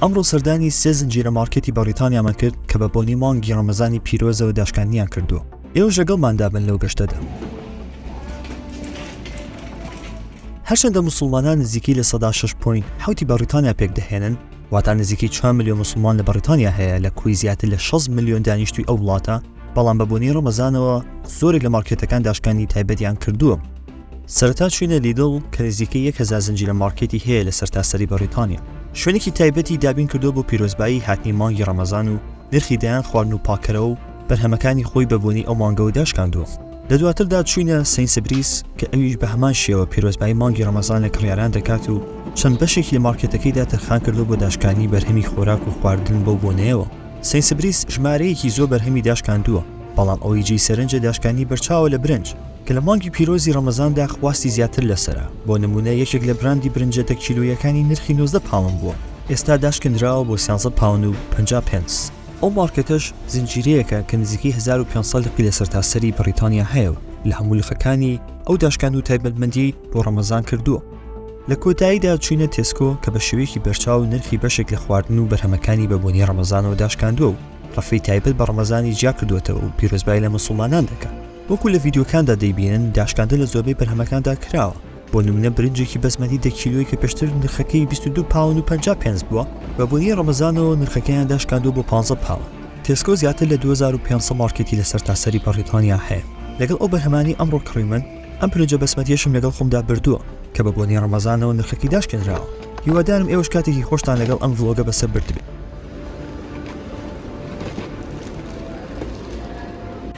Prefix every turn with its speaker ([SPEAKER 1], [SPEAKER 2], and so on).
[SPEAKER 1] ئەمڕۆ سەردانی سێ زنجیرە مارکێتی بەڕیتانیامان کرد کە بە بۆنی مانگی ڕەمەزانی پیرۆزەوە داشکاندنیان کردووە ئێوە ژەگەڵماندا بن لەو گەشتەدا هەرچەندە مسلمانان نزیکی لە سەدا 6 پوین حوتی بەڕیتانیا پێک دەهێنن واتا نزیکی 4 میلیۆن مسلمان لە بەڕیتانیا هەیە لە کوی زیاتر لە 6 میلیۆن دانیشتوی ئەو وڵاتە بەڵام بە بۆنی ڕەمەزانەوە زۆرێک لە مارکێتەکان داشکانی تایبەتیان کردووە سەرەتا چووینە لیدڵ کە نزیکەی یەک هەزار زنجیرە مارکێتی هەیە لە سەرتاسەری بەڕیتانیا، شوێنێکی تایبەتی دابین کردووە بۆ پیرۆزبایی هاتنی مانگی ڕەمەزان و نرخی دەیان خواردن و پاککەرەوە و بەرهەمەکانی خۆی بە بۆنەی ئەو مانگەوە داشکاندووە. لە دواتردا چووینە سەینسبریس کە ئەویش بە هەمان شێوە پیرۆزبایی مانگی ڕەمەزان لە کڕیاران دەکات و چەند بەشێکی لە مارکێتەکەیدا تەرخان کردووە بۆ داشکانی بەرهەمی خۆراک و خواردن بەو بۆنەیەوە. سەینسبریس ژمارەیەکی زۆر بەرهەمی داشکاندووە، بەڵام ئەوەی جێی سەرنجە داشکانی بەرچاوە لە برنج، کە لە مانگی پیرۆزی ڕەمەزاندا خواستی زیاتر لەسەرە، بۆ نموونە یەکێک لە براندی برنجە دە کیلۆییەکانی نرخی نۆزدە پاوەن بووە، ئێستا داشکێندراوە بۆ سیانزە پاون و پەنجا پێنس، ئەو مارکێتەش زنجیرەیەکە کە نزیکەی هەزار و پێنج سەد لقی لە سەرتاسەری بەڕیتانیا هەیە و لە هەموو لقەکانی ئەو داشکاند و تایبەتمەندیی بۆ ڕەمەزان کردووە. لە کۆتاییدا چووینە تێسکۆ کە بە شێوەیەکی بەرچاو نرخی بەشێک لە خواردن و بەرهەمەکانی بە بۆنەی ڕەمەزانەوە داشکاندووە و ڕەفی تایبەت بە ڕەمەزانی جیا کردووەتەوە و پیرۆزبایی لە موسڵمانان دەکا. وەکو لە ڤیدیۆکاندا دەیبینن داشکاندن لە زۆربەی بەرهەمەکاندا کراوە، بۆ نمونە برنجێکی بەسمەتی دە کیلۆی کە پێشتر نرخەکەی بیست و دوو پاوەند و پەنجا پێنس بووە، بە بۆنەی ڕەمەزانەوە نرخەکەیان داشکاندووە بۆ پانزە پاوەند. تێسکۆ زیاتر لە دوو هەزار و پێنج سەد مارکێتی لە سەرتاسەری بەڕیتانیا هەیە، لەگەڵ ئەو بەرهەمانەی ئەمڕۆ کڕیمن، ئەم برنجە بەسمەتیەشم لەگەڵ خۆمدا بردووە کە بە بۆنەی ڕەمەزانەوە نرخەکەی داشکێنراوە، هیوادارم ئێوەش کاتێکی خۆشتان لەگەڵ ئەم ڤڵۆگە بەسەر بردبێت.